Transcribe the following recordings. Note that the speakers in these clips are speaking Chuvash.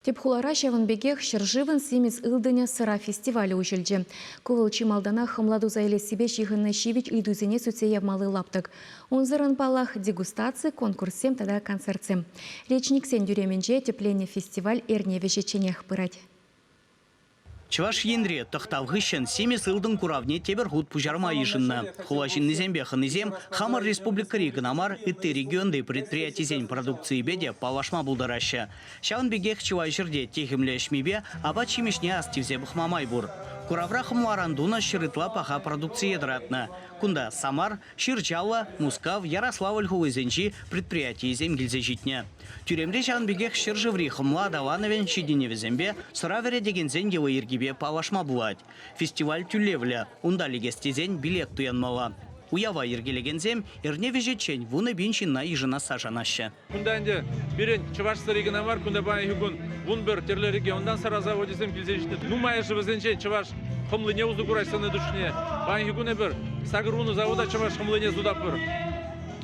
Тӗп хулара ҫавӑн пекех ҫӗршывӑн Симӗс ылтӑнӗ сӑра фестивалӗ уҫӑлчӗ. Ку вӑл чи малтанах хӑмла туса илессипе ҫыхӑннӑ ҫивӗч ыйтусене сӳтсе явмалли лаптӑк. Унсӑрӑн, паллах, дегустаци, конкурссем тата концертсем. Речниксен тӳремӗнче тӗпленнӗ фестиваль эрне вӗҫӗчченех пырать. Чӑваш Енре тӑхтав хыҫҫӑн симӗс ылтӑн куравне тепӗр хут пуҫарма йышӑннӑ. Хула ҫыннисемпе хӑнисем хамӑр республикӑри кӑна мар, ытти регионти предприятисен продукцийӗпе те паллашма пултараҫҫӗ. Ҫавӑн пекех чылай ҫӗрте техӗмлӗ ӗҫмипе апат-ҫимӗҫне астивсе пӑхма май пур. Куравра хӑмларан тунӑ ҫыр ытла паха продукцие тӑратнӑ. Кунта Самар, Ҫырчаллӑ, Мускав, Ярославль хулисенчи предприятийӗсем килсе ҫитнӗ. Тӳремре ҫавӑн пекех ҫӗршыври хӑмла аталанӑвӗн ҫитӗнӗвӗсемпе сӑра вӗретекенсен йӑли-йӗркипе паллашма пулать. Фестиваль тӳлевлӗ, унта лекес тесен билет туянмалла. Уява йӗркелекенсем эрне вӗҫӗччен вунӑ пин ҫынна йышӑнасса шанаҫҫӗ. Кунта ӗнтӗ пирӗн Чӑвашсӑри кӑна мар, кунта паянхи кун вун пӗр тӗрлӗ регионтан сарӑ завочӗсем килсе ҫитнӗ. Нумайӑшӗ вӗсенчен чӑваш хӑмлине усӑ курать сӑннӑ тӗшне. Паянхи кун эпир сакӑрвуннӑ завода чӑваш хӑмлине сутатпӑр.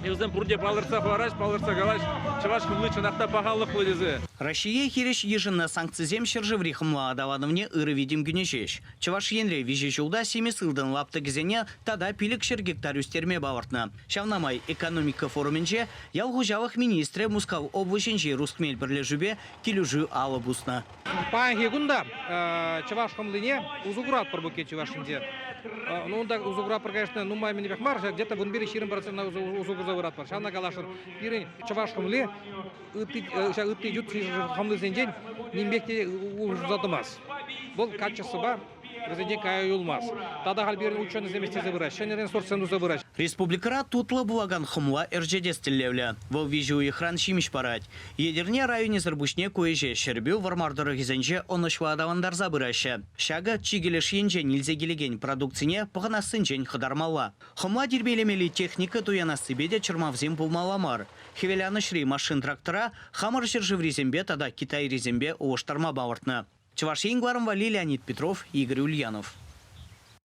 Вӗсем пурте палӑртса хӑвараҫ, палӑртса калаҫ, чӑваш хӑмли чӑнах та пахалӑхлӑ тесе. Раҫҫее хирӗҫ йышӑннӑ санкцисем ҫӗршыври хӑмла аталанӑвне ырӑ витӗм кӳнӗ ҫеҫ. Чӑваш Енре виҫӗ ҫулта симӗс ылтӑн лаптӑкӗсене тата пилӗк ҫӗр гектар ӳстерме палӑртнӑ. Ҫавна май экономика форумӗнче ял хуҫалӑх министрӗ Мускав облаҫӗнчи Русмель пӗрлешӳпе килӗшӳ алӑ пуснӑ. Паянхи кун та чӑваш хӑмлине усӑ куратпӑр букет чӑваш ӗнтӗ. Ну унта усӑ куратпӑр, конечно, нумай-мӗнпех мар, где-то вун пилӗк ҫирӗм процентна усӑ курса выратпӑр. Ҫавна каласшӑн, пирӗн чӑваш хӑмли ытти ют хӑмлисенчен нимпех те усӑ тумасть. Вӑл качествӑпа Вӗсенчен кая юлмасть. Тата халь пирӗн ученӑйсем ӗҫлесе пырать, ҫӗнӗ ресурссем туса пырать. Республикӑра тутлӑ пулакан хӑмла ӗрчетес тӗллевлӗ. Вӑл виҫӗ уйӑхран ҫимӗҫ парать. Етӗрне районӗсӗр пуҫне ку ӗҫе Ҫӗрпӳ, Вӑрмар тӑрӑхӗсенче ӑнӑҫлӑ аталантарса пыраҫҫӗ. Ҫакӑ чикӗ леш енчен илсе килекен продукцине пӑхӑнассинчен хӑтармалла. Хӑмла тирпейлемелли техника туянассипе те чӑрмавсем пулмалла мар. Хӗвеланӑҫри машин-трактора хамӑр ҫӗршыврисемпе тата китайрисемпе улӑштарма палӑртнӑ Чӑваш Ен кӑларӑмпа валли Леонид Петров, Игорь Ульянов.